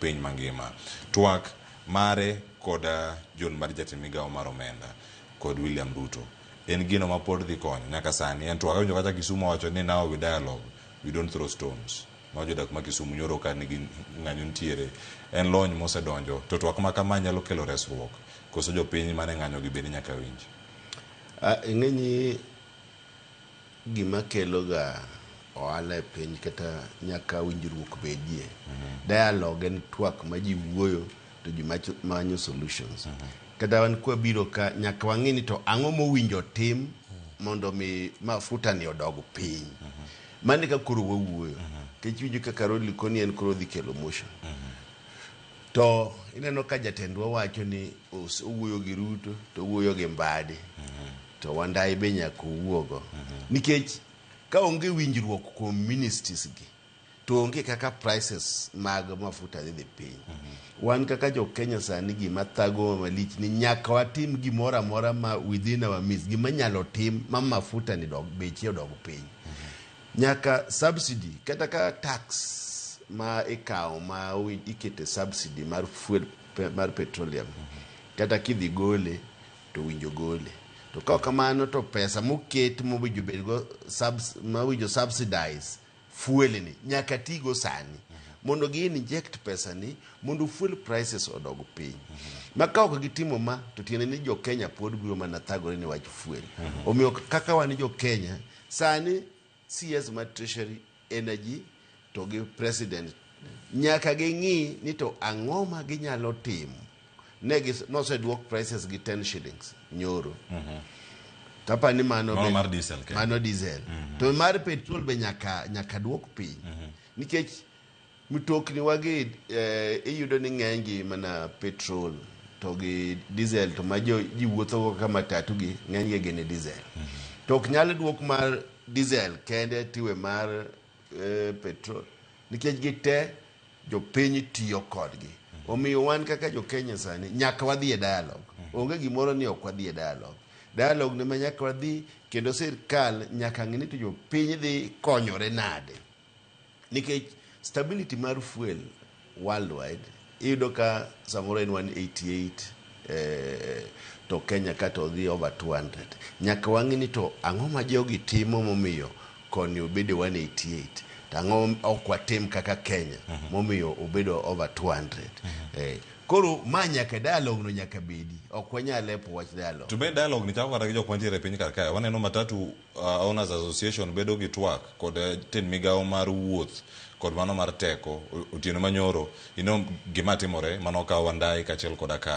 piny mangima. Twak mare kod John Mbadi jatend migawo mar omenda kod William Ruto en gino mapod dhi konyo nyaka sani. En twak awinjo kata Kisumu owacho ni now we dialogue, we don't throw stones. Mago jodak ma Kisumu nyoro ka nigi ng'anyo nitiere. En lony mosedonjo to twak ma kama nyalo kelo resruok koso jopiny mane ng'anyogi bende nyaka winj? Ng'enyie gima keloga ohala e piny kata nyaka winjruok bedie. Dialogue en twak ma ji wuoyo to ji macho- manyo solutions. Kata wan kwabiro ka nyaka wang'e ni to ang'o mowinjo tim mondo mi mafuta ni odog piny. Mano e ka koro wawuoyo. Kech iwinjo ka Carol Likoni en koro odhi kelo motion. To ineno ka jatendwa wacho ni os- owuoyo gi Ruto to owuoyo gi Mbadi. to wandayi be nyaka owuogo nikech ka onge winjruok kuom ministries gi to onge kaka prices mag mafuta dhi dhi piny wan kaka jo Kenya sani gima thagowa malich ni nyaka watim gimoro amora ma within our means gima nyalo tim ma mafuta ni dog beche odog piny nyaka subsidy kata ka tax ma ikawo ma wi- ikete subsidy mar fuel pe- mar petroleum kata kidhi gole to owinjo gole. To ka ok kamano to pesa moket mowinjo bedgo subs, mowinjo subsidize fuel ni nyaka tigo sani mondo gi inject pesa ni mondo fuel prices odog piny. Ma ka ok gitimo ma to tiende ni jo Kenya pod biro mana thagore ni wach fuel. Omiyo kaka wan jo Kenya sani CS mar Treasury, Energy to gi President nyaka ging'i ni to ang'o ma ginyalo timo. Ne gis- noseduok prices gi 10 shillings nyoro. Kapa ni mano Mano be- mar diesel, Kenya. mano diesel. To mar petrol be nyaka nyaka duok piny. Nikech Mtokni wagi iyudo ni ng'enygi mana petrol to gi diesel to ma ji wuothogo kaka matatu gi ng'enygi gin e diesel. To ok nyal duok mar diesel kende tiwe mar eh, petrol nikech gite jopiny tiyo kodgi. Omiyo wan kaka jo Kenya sani nyaka wadhi e dialogue. Onge gimoro ni ok wadhi e dialogue. Dialogue ne ma nyaka wadhi kendo sirkal nyaka ng'e ni to jopiny dhi konyore nade. Nikech stability mar fuel worldwide iyudo ka samoro en 188 eh, to Kenya ka to odhi over 200. Nyaka wang'e ni to ang'o ma jogi timo momiyo koni obedo 188 to ang'o ok watim kaka Kenya momiyo obedo over 200. Eh, koro ma nyaka dialogue no nyaka bedi. Ok wanyal lepo wach dialogue. To be dialogue ni chako kata gi jok mantiere e piny kar kae. Waneno matatu Owners Association bedo gi twak kod jatend migawo mar wuoth kod mano mar teko otieno manyoro, you know gima timore mane okaw Wandai kachiel koda ka